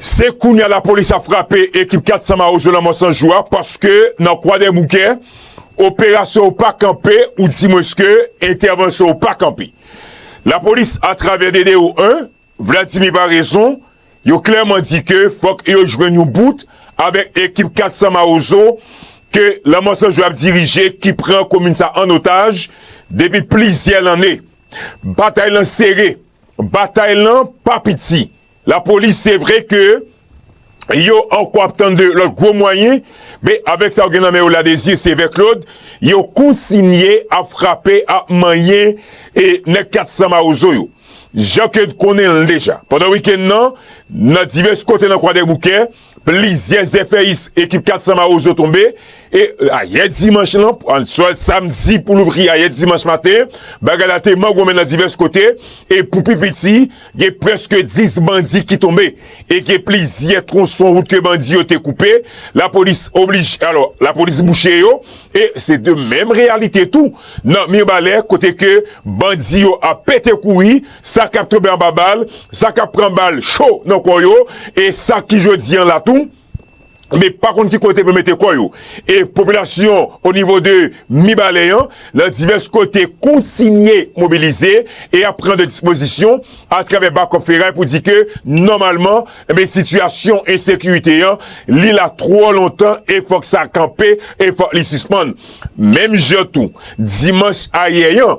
Se kounye a lapolis ap frape ekip 400 mawozo lanmò san jou a paske nan Kwadèboukè, operasyon yo pa kanpe ou dimwenske entèvansyon yo pa kanpe. Lapolis atravè DDO 1, Vladimir Paraison, yo klèman di ke fòk yo jwenn yon bout avèk ekip 400 mawozo ke lanmò san jou ap dirije ki pran komin sa an otaj depi plizyè lanne. Batay lan sere, batay lan pa piti. Lapolis se vre ke yo ankò ap tann de lòt gwo mwayen, men avèk sa yo gen nan men yo la Désir Sévère Claude, yo kontinye ap frape, ap manyen e nèg 400 mawozo yo. Jan ke n konnen l deja, pandan wikenn nan, nan divès kote nan Kwadèboukè, Plizyè zèfèyis ekip 400 Mawozo tonbe e ayè dimanch lan an swè samdi pou louvri ayè dimanch maten bagay la te mangonmen nan divès kote e pou pi piti gen prèske 10 bandi ki tonbe e gen plizyè twonson wout ke bandi yo te koupe lapolis oblije alò lapolis bouche yo e se de menm reyalite tou nan Mirbalè kote ke bandi yo ap pete kouri sa k ap tonbe anba bal, sa k ap pran bal cho nan kò yo e sa ki jodi an la tou men pa konn ki kote pou yo mete kò yo. E popilasyon onivo de Mibalè an nan divès kote kontinye mobilize e ap pran de dispozisyon atravè Bakòp Feray pou di ke nòmalman enben sitiyasyon ensekirite an li la twò lontan e fòk sa kanpe e fòk li sispann. Menm jan tou dimanch ayè an,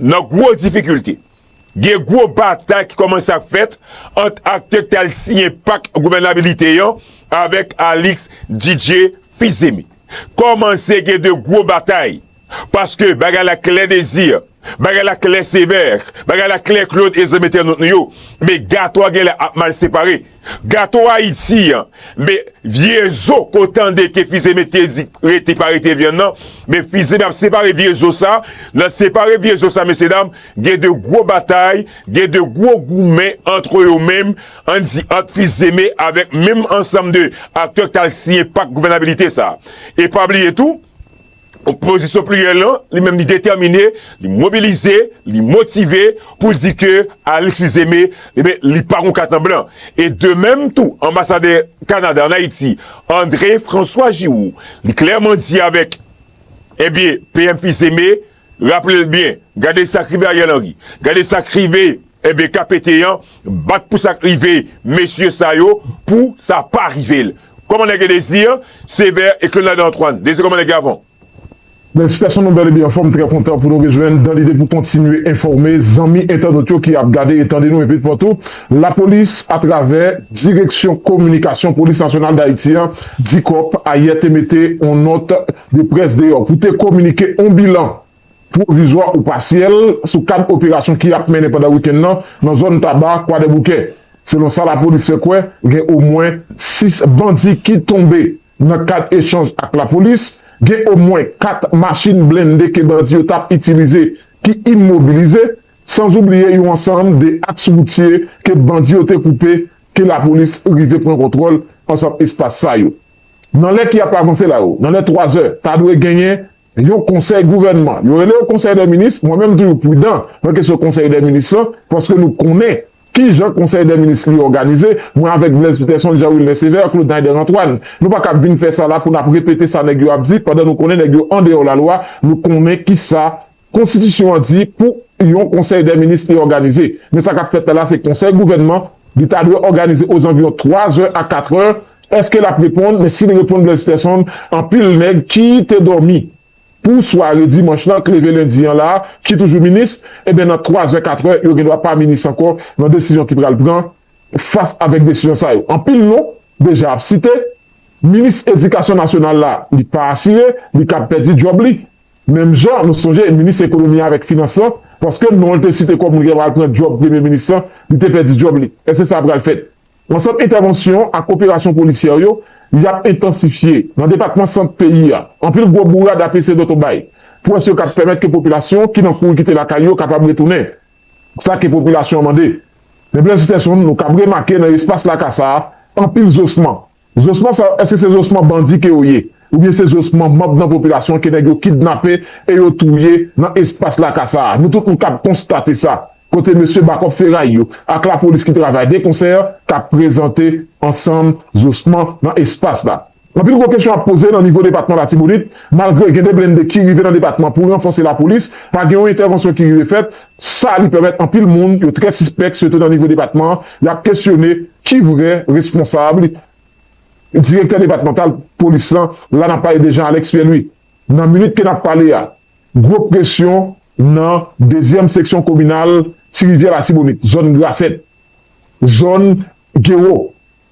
Nan gwo difikilte, gen gwo batay ki kòmanse ap fèt ant aktè ki t al siyen pak gouvènabilite an avèk Alix Didier Fils-Aimé. Kòmanse gen de gwo batay paske bagay la klè Désir, bagay la klè Sévère, bagay la klè Claude e zanmi entènot nou yo, men gato a genlè ap mal separe. Gato ayiti an me vye zo ko tande ke fize mete di rete pa rete vyann nan me fize ap separe vye zo sa nan separe vye zo sa mesye dam gen de gwo batay gen de gwo goumen antre yo menm an di ant fizeme avèk menm ansanm de aktè k tal siyen pak gouvènabilite sa e pa bliye tou Opozisyon pliryèl lan, li menm li detèmine, li mobilize, li motive pou l di ke Alix Fils-Aimé, enben, li pa gon kat an blan. E de menm tou, anbasadè Kanada an Ayiti, André François Giroux, li klèman di avèk, enben, PM Fils-Aimé, raple l byen, gade sa k rive Ariel Henry, gade sa k rive, enben, KPT an, bat pou sa k rive mesye sa yo, pou sa pa rive l. Kòmandè Guy Désir, Sévère et Claude Nader Antoine, Désir Kòmandè Guy Avant. Felisitasyon nou bèl epi anfòm m trè kontan pou nou rejwenn dan lide pou kontinye enfòme zanmi entènot yo ki ap gade e tande nou epi patou lapolis atravè direksyon kominikasyon polis nasyonal dayiti an dicop ayè te mete on nòt de près deyò pou te kominike on bilan pwovizwa ou pasyèl sou kad operasyon ki ap mennen pandan wikenn nan nan zòn Taba, Kwadèboukè. Selon sa lapolis fè kwè, gen omwen 6 bandi ki tonbe. Nan kad echanj ak lapolis, gen omwen 4 machin blende ke bandi yo tap itilize ki imobilize, sanzoubliye yon ansanm de aks woutye ke bandi yo te koupe ke lapolis rive pran kontwòl ansanm espas sa yo. Nan lè ki ap avanse la yo, nan lè 3 zè, ta dwe genyen Yon konsèy gouvènman. Yo rele yo konsèy dè minis, mwen menm m toujou pridan nan kesyon konsèy dè minis lan, paske nou konnen ki jan konsèy dè minis li òganize, mwen avèk Blaise Peterson, Jean Wilner Sévère, Claude Naider Antoine. Nou pa kab vin fè sa la pou n ap repete sa nèg yo ap di, pandan nou konnen nèg yo andeyò lalwa, nou konnen ki sa konstitisyon an di pou yon konsèy dè minis li òganize. Men sa k ap fèt la la se konsèy gouvènman. Li ta dwe òganize ozanviyon 3 zè a 4 è, èske l ap reponn, men si li reponn Blaise Person, anpil nèg ki te dòmi pou sware dimanch lan k leve lendi an la ki toujou minis, eben nan 3 zè 4 è yo gendwa pa minis ankò nan desizyon ki pral pran fas avèk desizyon sa yo. Anpil non deja ap site, minis edikasyon nasyonal la li pa asire, li kab pèdi djòb li. Menm jan nou sonje minis ekonomi a avèk finans lan, paske non l te site kòm moun ki ta pral pran djòb premye minis lan, li te pèdi djòb li. Èske sa pral fèt? Ansanm entèvansyon ak operasyon polisyè yo, y ap entansifye nan depatman Sant peyi a. Anpil gwo bourad ap eseye dòt obay. Pwès yo kab pèmèt ke popilasyon ki nan kouri kite lakay yo kapab retounen. Sa ke popilasyon an mande. Men plènsitèson, nou kab remake nan espas laka sa a, anpil zosman. Zosman sa yo eske se zosman bandi ke yo ye? Oubyen se zosman manb nan popilasyon ke nèg yo kidnape e yo touye nan espas laka sa a? Nou tout nou kab konstate sa, kote mesye bakòp feray yo ak lapolis ki travay de konsè kab prezante ansanm zosman nan espas la. Anpil gwo kesyon ap poze nan nivo depatman Latibonit, malgre gen de blende ki rive nan depatman pou ranfòse lapolis, pa gen yon entèvansyon ki rive fèt Sa li pèmèt anpil moun yo trè sispèk sitou nan nivo depatman y ap kesyone ki vrè responsab direktè depatmantal polis lan la n ap pale de Jean Alex Pierre Louis. Nan minit ke n ap pale a gwo presyon nan dezyèm seksyon kominal Ti Rivyè Latibonit zòn Grasèt, zòn Gewo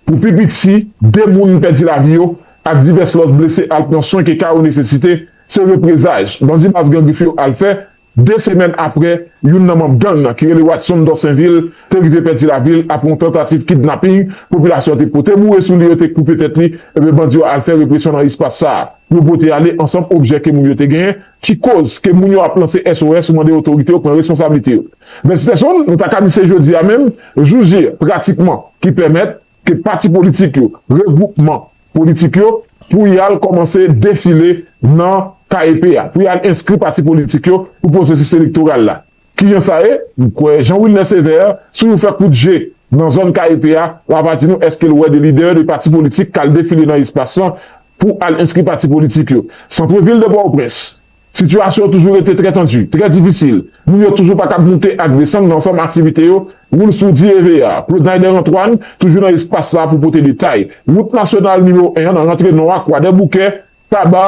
pou pi piti 2 moun pèdi lavi yo ak divès lòt blese al pran swen ke ka yo nesesite se reprezaj bandi baz Gran Grif yo al fè De semèn apre, youn nan manm gang nan ki rele Watson Dorsainville te rive pèdi lavi l apre yon tantativ kidnaping, popilasyon te pote boure sou li yo te koupe tèt li, enben bandi yo al fè represyon nan espas sa a. Yo pote ale ansanm objè ke moun yo te genyen ki koz ke moun yo ap lanse SOS pou mande otorite yo pran responsablite yo. 26 desanm, nou ta ka di se jodi a menm, jou J pratikman, ki pèmèt. ke pati politik yo, regwoupman politik yo pou y al kòmanse defile nan KEP a, pou y al enskri pati politik yo pou pwosesis elektoral la. Ki jan sa ye? M kwè Jean Wilner Sévère, si w fè kout je nan zòn KEP a, w ava di nou èske l wè de lidè de pati politik k al defile nan espas lan pou al enskri pati politik yo. Centre Ville de Port-au-Prince. Sitiyasyon an toujou rete trè tandi, trè difisil. Moun yo toujou pa kab moute ak desann nan ansanm aktivite yo. Woul sou DIEV a, Claude-Naider Antoine, toujou nan espas sa a pou pote detay. Wout nasyonal nimewo 1 an nan rantre nò a, Kwadèboukè, Taba,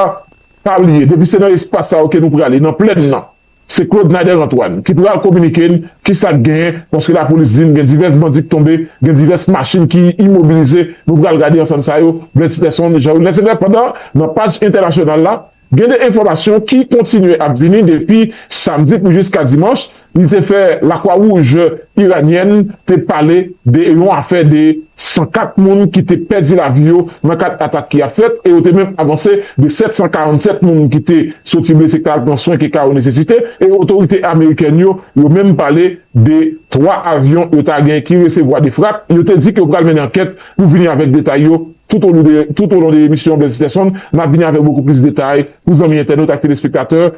Pa bliye, depi se nan espas sa yo ke nou prale, nan plèn nan, se Claude-Naider Antoine ki pral kominike n ki sa k genyen, paske lapolis di n gen divès bandi k tonbe, gen divès machin ki imobilize. Nou pral gade ansanm sa yo, Blaise Peson, Jean-Wilner Sylvestre. Pandan, nan paj entènasyonal la, Gen de enfòmasyon ki kontinye ap vini depi samdi pou jiska dimanch li te fè Lakwa Wouj Iranyèn te pale de yon afè de 104 moun ki te pèdi lavi yo nan kad atak ki ap fèt e yo te menm avanse de 747 moun ki te soti blese ka al pran swen ke ka yo nesesite e otorite amerikèn yo yo menm pale de 3 avyon yo ta gen ki resevwa de frap yo te di ke yo pral mennen ankèt pou vini avèk detay yo. Toutolon de emisyon Blaise Peterson n ap vini avèk bokou plis detay pou zanmi entènot ak telespektatè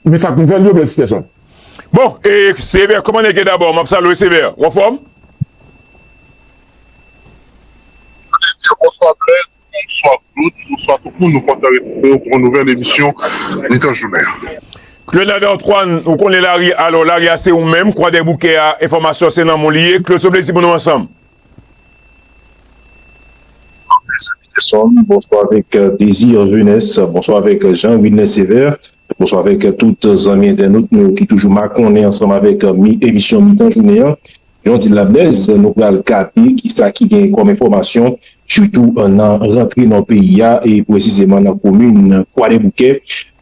Men sa k nouvèl yo Blaise Peterson. Bon e Sévère kòman nèg ye dabò m ap salwe Sévère ou anfòm? Sévère bonswa Blaise bonswa Claude bonswa tout moun nou kontan retrouve w pou yon nouvèl emisyon mitan jounen an. Claude Nader Antoine ou konnen lari alò lari a se ou menm Kwadèboukè a enfòmasyon se nan men w li ye Claude se yon plezi pou nou ansanm. Mezanmi de som bonswa avèk Désir Venès bonswa avèk Jean Wilner Sévère bonswa avèk tout zanmi entènot nou yo ki toujou makonnen ansanm avèk emisyon mitan jounen an jan w di l la Blaise nou pral gade kisa ki gen kòm enfòmasyon sitou nan rantre nò peyi a e presizeman nan komin Kwadèboukè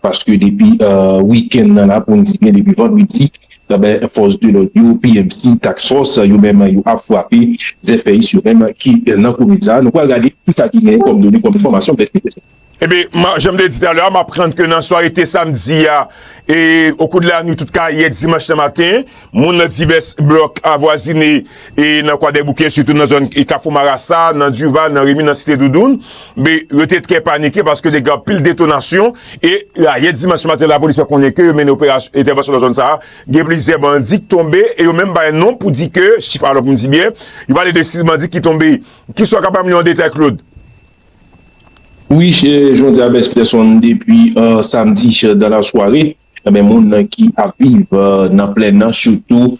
Paske depi wikenn nan la pou n di byen depi vandredi ebyen fòs de lòd yo pmc, task force yo menm yo ap frape zèfèyis yo menm ki nan komin sa a. Nou pral gade kisa ki genyen kòm done kòm enfòmasyon blèd pete sa. Ebyen jan m te di talè a m aprann ke nan sware te samdi a e okou de lanwit tout kayè dimanch nan maten Moun nan divès blòk avwazine e nan Kwadèboukè sitou nan zòn Kafou Marasa, nan Duval, nan Remi, nan Site Doudoun, be, yo te trè panike paske te gen anpil detonasyon e ayè dimanch maten lapolis fè konnen ke yo mennen operasyon entèvansyon nan zòn sa a, gen plizyè bandi k tonbe e yo menm bay non pou di ke chif alò pou m di byen, yo pale de 6 bandi ki tonbe. Ki sa w ka ban m li an detay Claude? Wi, Jean Diabès Pierson depi samdi dan la sware. Anben moun nan ki ap viv nan plèn nan sitou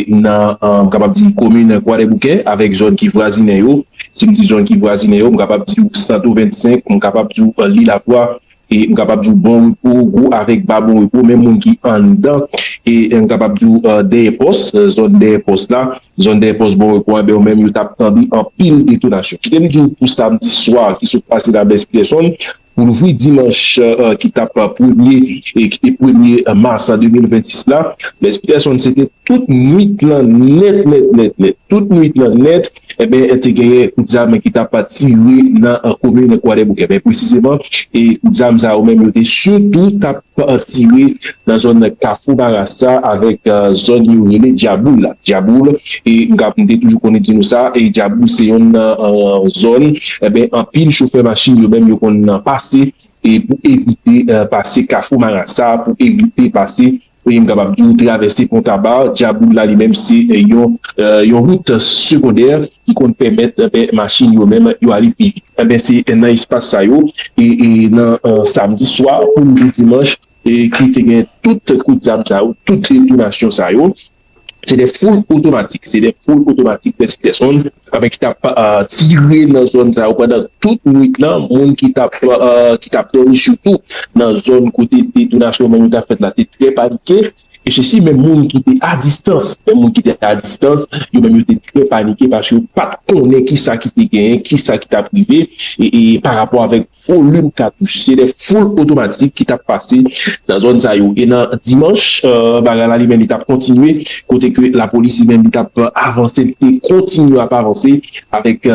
nan m kapab di komin kwadèboukè avèk zòn ki vwazinen yo, si m di zòn ki vwazinen yo m kapab di w santo 25, m kapab di w li lakwa, m kapab di w bon repo, gwo avèk ba bon repo menm moun ki anndan m kapab di w dèyè pòs, zòn dèyè pòs la, zòn dèyè pòs bon repo anben yo menm yo t ap tande anpil detonasyon. Kite m di w pou samdi swa ki sot pase la Blaise Peterson Pou louvri dimanch ki t ap premye premye mas 2026 la, Les Peterson se te tout nwit lan nèt nèt nèt nèt. Tout nwit lan nèt enben te genyen kout zam ki t ap tire nan komin Kwadèboukè. Men presizeman kout zam sa yo menm yo te sitou t ap. an tire nan zòn kafou marasa avèk zòn yo rele dyaboul la dyaboul e m ka m te toujou konn di nou sa e dyaboul se yonn nan zòn enben anpil chofè machin yo menm yo konn nan pase e pou evite pase kafou marasa pou evite pase e m kapab di ou travèse pon kaba dyaboul la li menm se yon yon wout segondè. ki konn pèmèt machin yo menm yo ale pi vit. Enben se nan espas sa yo e nan samdi swa poum jou dimanch ke te gen tout kout zam sa yo, tout detonasyon sa yo. Se 2 foul otomatik, se 2 foul otomatik plis pèsonn enben ki tap tire nan zòn sa yo pandan tout nwit lan. Moun ki tap ki tap dòmi sitou nan zòn kote detonasyon nan yo tap fèt la te trè panike. E se si menm moun ki te a distans, menm moun ki te a distans, yo menm yo te trè panike paske yo pa t konnen ki sa ki te genyen, ki sa ki t ap rive e pa rapò avèk volim katouch. Se de foul otomatik ki t ap pase nan zòn sa yo. E nan dimanch, bagay la li menm li t ap kontinye kote ke lapolis li menm li t ap avanse, li te kontinye ap avanse. Avèk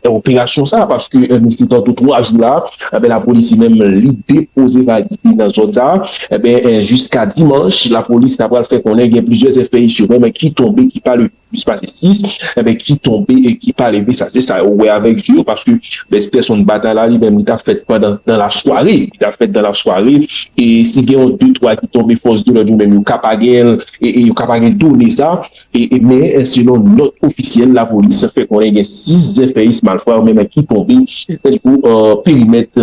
operasyon sa a, paske misye tantou 3 jou la, enben lapolis li menm li depoze valiz li nan zòn sa a, enben jiska dimanch lapolis ta pral fè konnen gen plizyè zèfèy yo menm ki tonbe ki pa leve plis pase 6, enben ki tonbe e ki pa leve sa se sa yo wè avèk je yo paske bèz pèsonn batay la li menm li ta fèt pandan dan lasware li ta fèt dan lasware e si gen yon de twa ki tonbe fòs de lòd yo menm yo ka pa gen yo ka pa gen done sa. Men, selon nòt ofisyèl lapolis fè konnen gen 6 zèfèyis malfra yo menm ki tonbe nan perimèt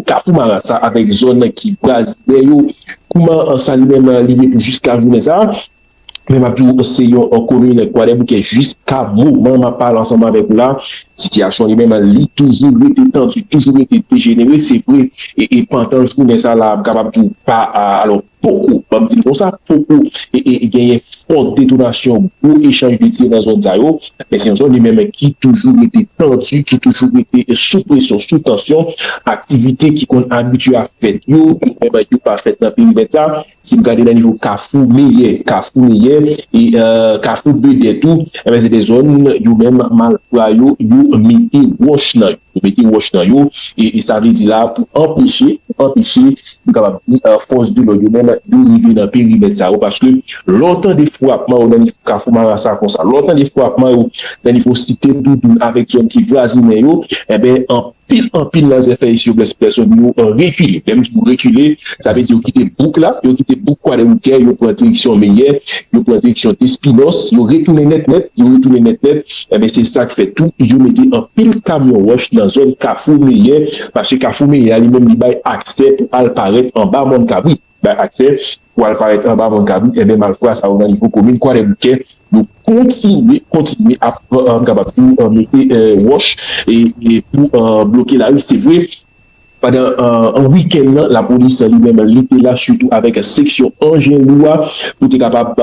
Kafou Marasa avèk zòn ki vwazinè yo. Kouman sa li menm li ye pou jiska jounen sa a? Men m ap di w se yon komin Kwadèboukè jiska moman m ap pale ansanm avèk ou la. Sitiyasyon li menm li toujou rete tandi, toujou rete dejenere. Se vre, pandan jounen sa la m kapab di w pa, alò, Poko, map di l konsa, poko genyen fò detonasyon gwo echanj de tir nan zòn sa yo, men se yon zòn li menm ki toujou rete tandi, ki toujou rete sou presyon, sou tansyon, aktivite ki konn abitye ap fèt yo, yo menm yo pa fèt nan perimèt sa, si n gade nan nivo kafou meyè, kafou meyè, kafou bedè tou, se de zòn yo menm malfra yo, yo mete wòch nan yo. Pou mete wòch nan yo, e sa vle di la pou anpeche, pou anpeche, nou kapab di, fòs de lòd yo menm, yo rive nan perimèt sa yo, paske lè w tande frapman yo nan nivo Kafou Marasa konsa, lè w tande frapman yo nan nivo Site Doudoun avèk zòn ki vwazinen yo, enben, anpil, anpil nan zèfèy Siyoplès Pèsonn yo rekile. Lè m di yo rekile, sa vle di yo kite bouk la, yo kite bouk Kwadèboukè, yo pran direksyon Meyè, yo pran direksyon Despinòs, yo retounen nèt nèt, yo retounen nèt nèt, Enben se sak fè tou yo mete anpil kamyon wòch nan zòn kafou meyè paske kafou meyè a li menm li bay aksè pou al parèt anba mòn kabrit bay aksè pou al parèt anba mòn kabrit enben malfra sa yo nan nivo komin kwadèboukè yo kontinye kontinye ap m kapab di w mete wòch e pou bloke lari se vre Pandan an wikenn nan lapolis li menm li te la sitou avèk seksyon anjen lou a pou te kapab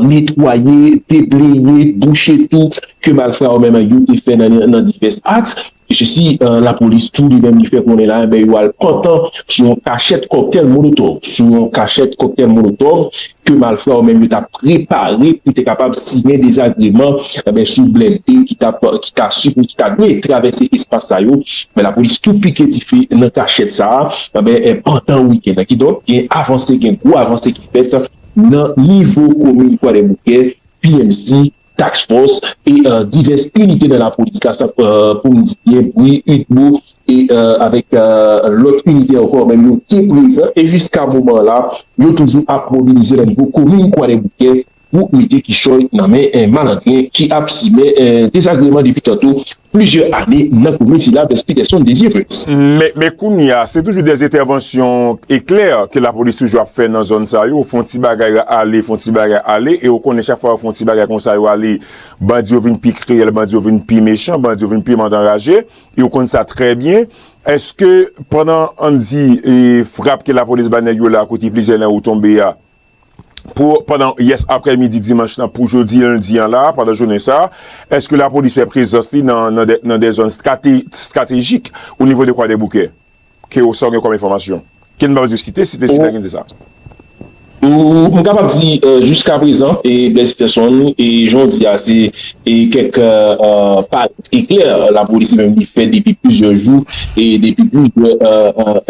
netwaye, debleye, bouche tou ke malfra yo menm yo te fè nan divès aks. Esesi lapolis tou li menm li fè konnen la, yo al pantan sou yon kachèt kòktèl molotòv, sou yon kachèt kòktèl molotòv ke malfra yo menm yo tap prepare pou te kapab siyen dezagreman enben sou blende ki tap ki ta sipo ki ta dwe travèse espas sa yo men lapolis tou pike dife nan kachèt sa a enben pandan wikenn nan kidonk gen avanse gen gwo avanse ki fèt nan nivo komin kwadèboukè PMC Task Force e divès inite nan lapolis la san pou m di byen bri, udmo e avèk lòt inite ankò menm yo te prezan e jiska moman an la yo toujou ap mobilize nan nivo komin Kwadèboukè pou mete kichòy nan men malandren ki ap simen dezagreman depi tanto plizyè ane nan komin sila Vens Peterson Desir Fritz. Men kounye a, se toujou dè entèvansyon eklè ke lapolis toujou ap fè nan zòn sa yo, fon ti bagay ale, fon ti bagay ale, e ou konnen chak fwa yo fon ti bagay konsa yo ale, bandi yo vin pi kriyèl, bandi yo vin pi mechan, bandi yo vin pi madanraje, e ou konn sa trè byen. Eske pandan, ann di, frap ke lapolis bay nèg yo la kote plizyè nan yo tonbe a, pou pandan yès aprè midi dimanch lan pou jodi lendi an la, pandan jounen sa a, èske lapolis fè prezans li nan de zòn stratejik o nivo de Kwadèboukè? Ke ou sa ou gen kòm enfòmasyon? Ke n pa bezwen site, site site ki n di sa. M kapab di jiska prezan, Blaise Peterson, jan ou di a se kèk pa E klè, lapolis menm li fè depi plizyè jou e depi plizyè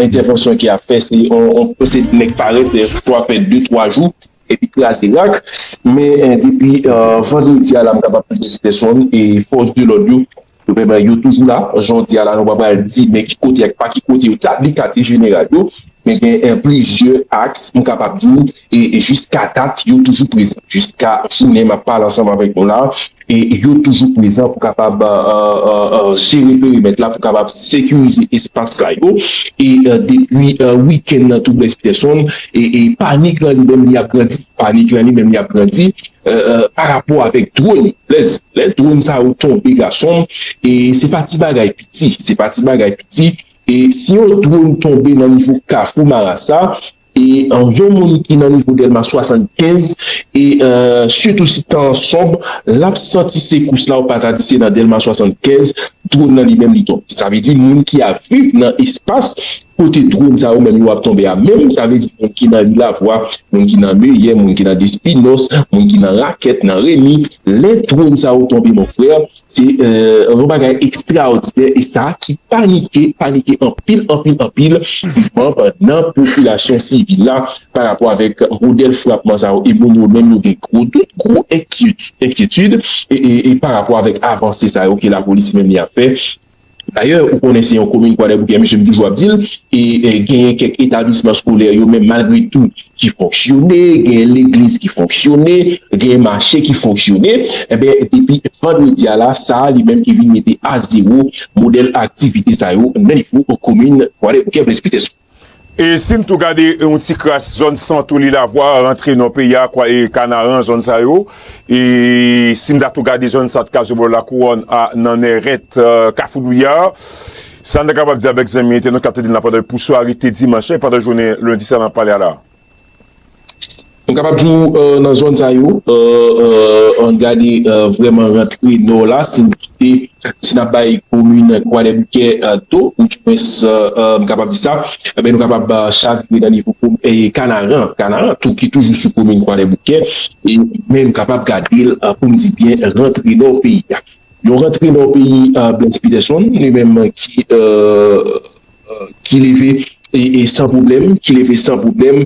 entèvansyon ki ap fè se nèg parèt chwa fè de twa jou epi kraze rak men depi vandredi a la m kapab di se te sonn e fòs de lòd yo yo toujou la jodi a la nou pa pral di men ki kote ak pa ki kote yo tabli katye jeneral yo Men gen plizyè aks m kapab di w e jiska dat yo toujou prezan. Jiska jounen m ap pale ansanm avèk nou la a, yo toujou prezan pou kapab jere perimèt la, pou kapab sekirize espas sa yo. E depi wikenn nan tou Blaise Peterson, panik lan li menm li ap grandi. Panik lan li menm li ap grandi parapò avèk dwòn. Blaise, lè dwòn sa yo tonbe gason m, se pa ti bagay piti. Se pa ti bagay piti. E si yon dronn tonbe nan nivo kafou marasa e an yon moun ki nan nivo dèlma 75 e sitou si tan an sonb lap santi sekous la ou pa ta di se nan dèlma 75 dronn nan li menm li tonbe sa vle di moun ki ap viv nan espas kote dronn sa yo menm yo ap tonbe a menm sa vle di moun ki nan ri lavwa moun ki nan meyè moun ki nan despinòs moun ki nan rakèt nan remi lè dronn sa yo tonbe mon frè Se yon bagay ekstraòdinè e sa ki panike, panike anpil, anpil, anpil manb nan popilasyon sivil la pa rapò avèk modèl frapman sa yo e moun yo menm yo gen gwo dout, gwo enkyetid e pa rapò avèk avanse sa yo ke lapolis menm li ap fè. Dayè, ou konnen se yon komin Kwadèboukè, mesye m toujou ap di l, e genyen kèk etablisman skolè yo menm malgre tou ki fonksyone, genyen legliz ki fonksyone, genyen mache ki fonksyone, enben depi vandredi a la sa a li menm ki vin mete a zewo modèl aktivite sa yo nan nivo komin Kwadèboukè-Presbytè. Sou. E si n tou gade yon ti kras zòn Santo, Lilavois, rantre nò peyi a, kwa e Kanaran, zòn sa yo, e si n ta tou gade zòn Sat Kazobò, Lakouwòn, a nan Nèrèt, Kafou Douyè, sa n ta kapab di avèk zanmi entènot k ap tande n la pandan l pou sware te dimanch la e pandan jounen lendi sa n ap pale a la? Nou kapab di w nan zòn sa yo, an gade vrèman rantre nò la, si nou kite, si n ap bay komin Kwadèboukè do, ou di mwens m kapab di sa, enben nou kapab chavire nan nivo Kanaran, Kanaran tou ki toujou sou komin Kwadèboukè, men nou kapab gade l pou m di byen rantre nò peyi a. Yon rantre nò peyi Blaise Peterson li menm ki leve san pwoblèm, ki leve san pwoblèm.